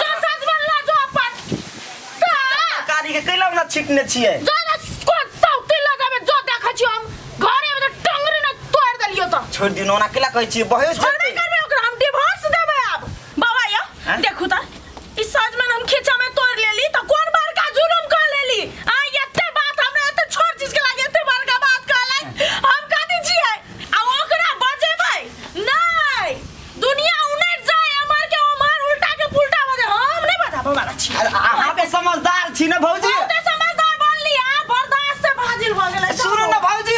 जो साँझ में ला जो अपन का कारी के कैला ना छिटने छिए जो ना कोन सौती लगा में जो देखै छी हम घरे में तो टंगरी न तोड़ देलियो तो छोड़ दियो ना कैला कहै छिए बहस छोड़बे करबे ओकरा हम डिवोर्स देबे अब बाबा यो हैं? देखू त ई साँझ में हम खींचा में तोड़ लेली तो कोन बड़का जुलुम कर लेली आ एते बात हमरा एते छोट चीज के लागे एते बड़का बात कहलै हम कथि छियै आ ओकरा बजेबै नै दुनिया उनट जाए अमर के अमर उल्टा के पुल्टा हो जाए हम नहीं बताबो वाला छी अरे अहाँ के समझदार छी ना भौजी बहुते समझदार बन लिया बर्दाश्त से भाजिल भ गेलै सुनू ना भौजी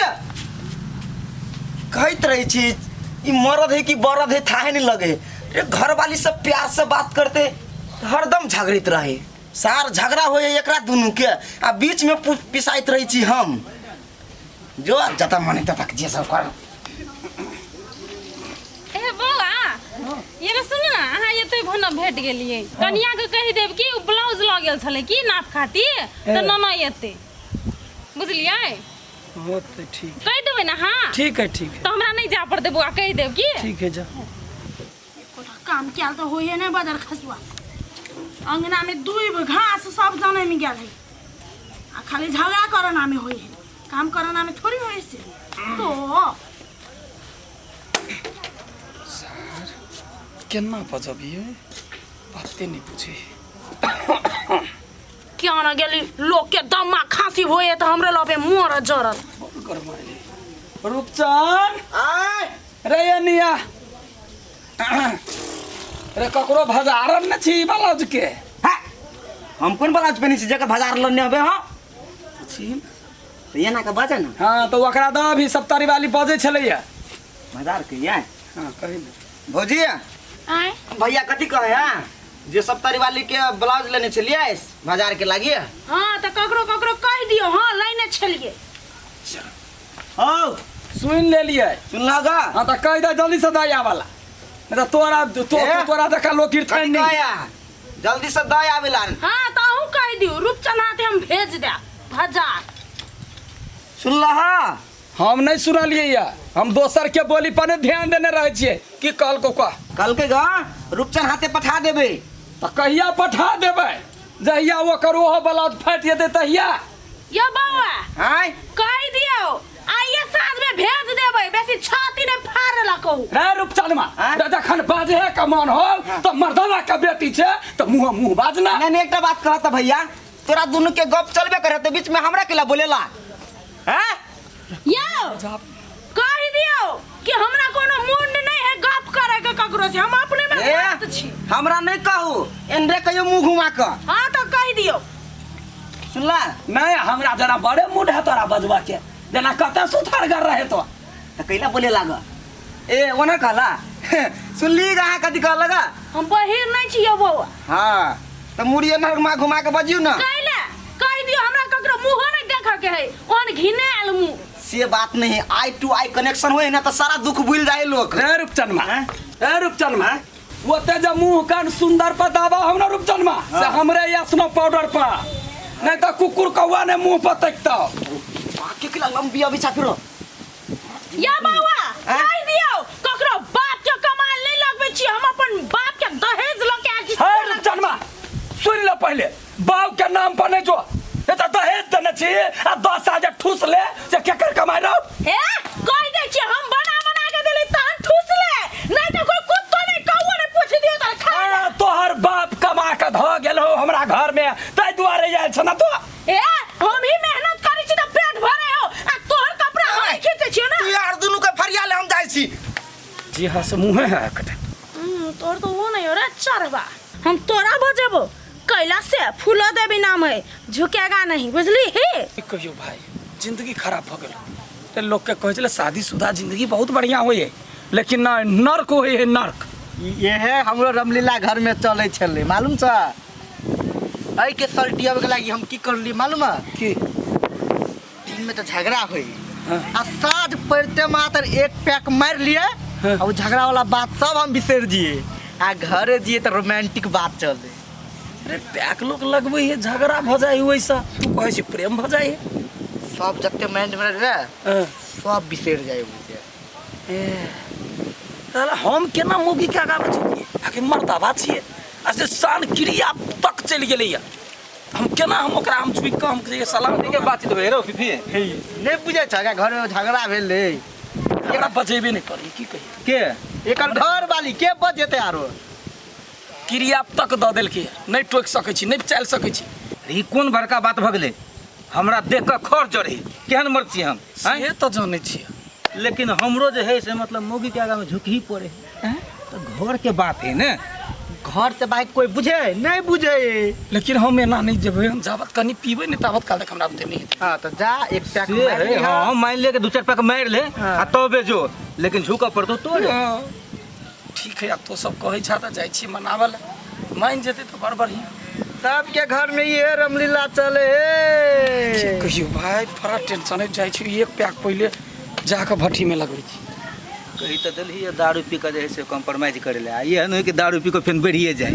कहैत रही छी ई मरद है कि बरद है थाहे नहीं लगे रे घर वाली सब प्यार से बात करते हरदम झगड़ित रहे सार झगड़ा होए एकरा दुनू के आ बीच में पु- पिसाइत रही छी हम जो जता मन है तता जे सब कर ए बोला ये रे सुन ना अहाँ एतै भन भेट गेलियै कनिया के कहि देब कि उ ब्लाउज लऽ गेल छलै की नाप खातिर तऽ ए। नना एतै बुझलियै वो तो ठीक कहि देबै ने अहाँ ठीक है ठीक है तऽ हमरा नहि जाय पड़तै बौआ कहि देब की ठीक है जा काम कयल तऽ होइए नहि बदर खसुआ अङ्गनामे दूबि घास सब जनमि गेल है आ खाली झगड़ा करनामे होइ है काम करनामे थोड़ी होइ से तो केना बजबियै बाते नहि बुझे क्या न गेली लोकके दम्मा खाँसी होइए तऽ हमरे लबे मोर जरत रूपचन आय रे ये निया रे ककरो भजारन न छी बलज के हैं? हम कोन ब्लाउज पहनी छी जकर बाजार लने हबे हां छी तो एना के बाजे ना हाँ तो ओकरा दऽ अभी सप्तरी वाली बजै छलैया बाजार के ये हाँ कही दे भौजी आय भैया कथी कहे हैं जे सब परिवाली के ब्लाउज लेने छलिए बाजार के लागिए हाँ तऽ ककरो ककरो कहि दियौ हाँ लैने छलियै हौ सुन ले लिए सुनला गा हाँ तो कह दे जल्दी से दया वाला नहीं तो तोरा तो, ए? तोरा देखा लोग कथी कीर्तन नहीं कहै अहाँ? जल्दी से दय आबेला हाँ तो अहूँ कह दियो रूपचंद हाथे हम भेज दे हजार सुनला हा हम नहीं सुनलिए या हम दोसर के बोली पर नहीं ध्यान देने रहे छिए कि कल को का कहलकै गा रूपचन हाथे पठा देबै तो कहिया पठा देबै जहिया ओकर ओहो ब्लाउज फाटि जेतै तहिया यो बौआ आय कहि दियो आइए साँझ में भेज देबै बेसी छाती ने फाड़ लकौ रे रूपचनमा हाँ? रे जखन बाजे है के मन होल तो मर्दना के बेटी छे तो मुंह मुंह बाजना नहीं नहीं एकटा बात कहत भैया तोरा दुनू के गप चलबे करे तो बीच में हमरा केला बोलेला हैं यौ कहि दियौ कि हमरा कोनो मुंड नहीं है गप करे के ककरो से हम अपने में ए, व्यस्त छी हमरा नहीं कहू एनरे कहियो मुंह घुमा क हां तो कहि दियौ सुनला नहीं हमरा जरा बड़े मूड है तोरा बजबा के जना कते सुथर कर रहे तो त कैला बोले लाग ए ओना कहला सुनली गा अहाँ कथी कहलक गा? हम बहिर नहीं छियो बौआ हाँ तऽ मुड़ी एना घुमा घुमा के बजियौ ने कैले कह दियो हमरा ककरो मुंहो नहीं देख के है ओहन घिने आल मुंह से बात नहीं आई टू आई कनेक्शन होए ना तऽ सारा दुख भूल जाए लोग ए रूपचनमा हैं? ए रूपचनमा ओते जे मुंह कान सुंदर पर दाबा हम ना रूपचनमा से हमरे यासनो पाउडर पर नहीं तो कुकुर कौआ ने मुंह पर तकता बाकी के लंबी अभी छापिरो या बाबा आ? कहि दियो ककरो बाप के कमाल नहीं लगबे छी हम अपन बाप के दहेज ल के आयल छी है रे जनमा सुन ले पहले बाप के नाम पर नहीं जो ये तो दहेज देने छी आ दस हजार ठूस ले जे केकर कमाई रहो हे कहि दे छी हम बना बना के देली तहन ठूस ले नहीं तो कोई कुत्तो नहीं कौओ नहीं पूछ दियो त खा आ, तोहर बाप कमा के धो गेल हो हमरा घर में ताहि दुआरे आयल छ ना तो ए हम ही मेहनत करै छी तऽ पेट भरे हो आ तोहर कपड़ा हम ही खींचे छियो ना तू यार दुनू के फरिया ले हम जाइ छी जी हाँ से मुँहे है कटा हम्म, तोहर तो वो नहीं हो रहा चरवा हम तोरा बजेबो कैला से फूलो देवी नाम है झुकेगा नहीं बुझली ही की कहियो भाई जिंदगी खराब हो गेल ते लोग के कहै छले शादीशुदा जिंदगी बहुत बढ़िया होय है लेकिन ना नर्क होय है नर्क इहे हमरो रामलीला घर में चलै छलै मालूम छ एहि के सलटियावे के लागी हम की करली मालूम है की दिन में तो झगड़ा हुई हाँ। आ साँझ पड़ते मात्र एक पैक मार लिए हाँ। और वो झगड़ा वाला बात सब हम बिसर जिए आ घरे जिए तो रोमांटिक बात चले अरे पैक लोग लगबै है झगड़ा भऽ जाइ है ओहिसँ तू कहै छी प्रेम भऽ जाइ है सब जते माइंड में रहे हाँ। सब बिसर जाए मुझे साला हम केना मौगी के आगा में झुकी आखि मर्दाबा छिए आ से शान क्रिया तक चलि गेलैया हम केना हम ओकरा हम झुकि कऽ हम कहियै साला हमनी के बातचीत भए रहो फिफी नहीं बुझे छा का घर में झगड़ा भेल रहे एकरा बजेबे नहि करी की कही के एकर घर वाली के बच जेते आरो क्रिया तक दऽ देलकै नहि टोकि सकै छी नहि चलि सकै छी ई कोन बड़का बात भऽ गेलै हमरा देख कऽ खर जड़े केहन मर्द छी हम आँय? से तऽ जानै छियै लेकिन हमरो जे है से मतलब मौगी के आगा में झुकही पड़े है तो घर के बात है ने घर से बाहर कोई बुझे है? नहीं बुझे है। लेकिन हम एना नहि जेबै हम जाबत कनी पीबै नहि ताबत काल तक हमरा बुते नहि हेतै हाँ तो जा एक पैक से मार है लिहा। हाँ मान ले के दू चार पैक मार ले हाँ। आ तबे जो लेकिन झुकऽ पड़तो तोरे हाँ। ठीक है अब तो सब कहै छा तऽ जाइ छी मनाबऽ लए मान जेतै तऽ बड़ बढ़िया सबके घर में ये रामलीला चले की हे कहियो भाय बड़ा टेंशन है जाइ छी एक पैक पहिले जाके भट्टी में लगबै छी कही तऽ देलही दारू पी कऽ जे है से कॉम्प्रोमाइज करे लए आ एहन होइ कि दारू पी कऽ फेन बढ़िए जाइ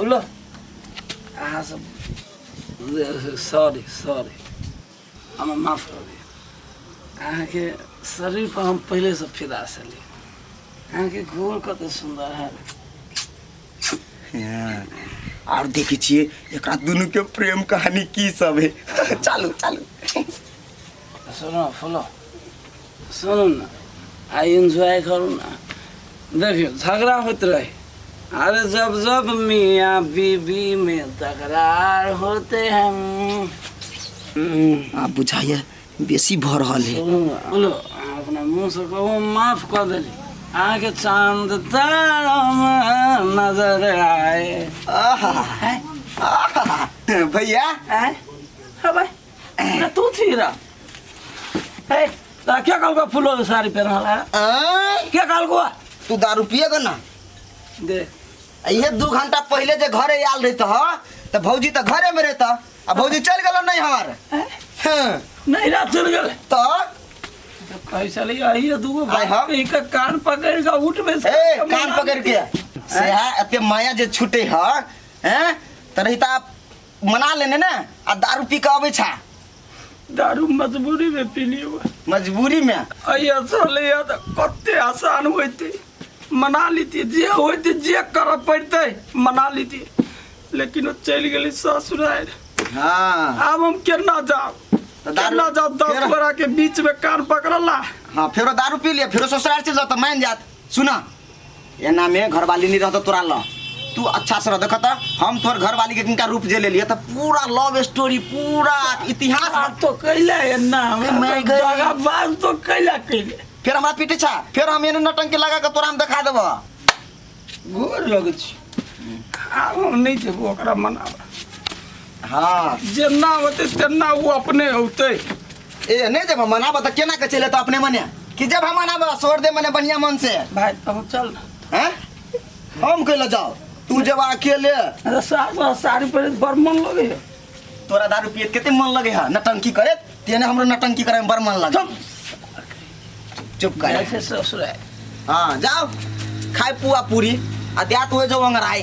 Ula. Ah, so- sorry sorry हम माफ कर दिए अहाँके शरीर पर हम पहले से फिदा छली अहाँके गोर कते सुन्दर है आर देखै छियै एकरा दुनू के प्रेम कहानी की सब है चालू चालू सुनो फुलो सुनू ने आ एंजॉय करू ने देखियौ झगड़ा होइत रहे अरे जब जब मियाँ बीबी में तकरार होते हैं आ बुझाइए बेसी भऽ रहल है सुनू ने, बोलो अहाँ अपना मुँह से कहू माफ कऽ देली अहाँके चांद तारा में नजर आए आहा, आहा, भैया आए हबै अरे तू थी रहा ए ता क्या कल को फूलो के साड़ी पहन वाला है आय, क्या कल को तू दारू पिए गो ना दे इहे दू घंटा पहले जे घरे आयल रहत ह त भौजी त घरे में रहत आ भौजी चल गेल नहीं हमार ए, हं, नहीं रात चल गए त कैसा ले आई है दूगो आय हाँ। भाई का कान पकड़ का उठ में से ए कान पकड़ के सेहा एते माया जे छूटे ह हैं त रहिता मना लेने ने आ दारू पी के अबै छा दारू मजबूरी में पी लियो मजबूरी में अई असर ले त कते आसान होते मना लीती जे होते जे कर पड़ते मना लीती लेकिन वो चल गेली ससुराल हाँ आब हम केना जाब तो दारू- केना जाब दस केना- गोरा के बीच में कान पकड़ला हाँ फेरो दारू पी लिया फेरो ससुराल चल जाता मान जात सुना एना में घरवाली नहीं रहता तोरा ल तू अच्छा से रह देखत हम तोर घरवाली के किनका रूप जे ले लिए तो पूरा लव स्टोरी पूरा इतिहास बात तो कैला है ना अरे मैं गई। जगह बात तो कैला कैले फिर हमारा पीटे छा फिर हम एने नटंकी लगा के तोरा हम दिखा देबो गोर लगे छी आब हम नहीं जेबो ओकरा मनाबा हाँ जेना होते तेना वो अपने होते ए नहीं जब हम मनाबा त केना के चले त अपने मने कि जब हम मनाबा छोड़ दे मने बढ़िया मन से भाई अब चल ना हैं हम कहला जाओ तू जब अकेले अरे सास और साड़ी पर बड़ मन लगे है तोरा दारू पिए त केते मन लगे है नटंकी करे तेने हमरो नटंकी करे में बड़ मन लगे चुप कर जैसे ससुर है हाँ जाओ खाए पुआ पूरी आ दिया तो जो अंगराई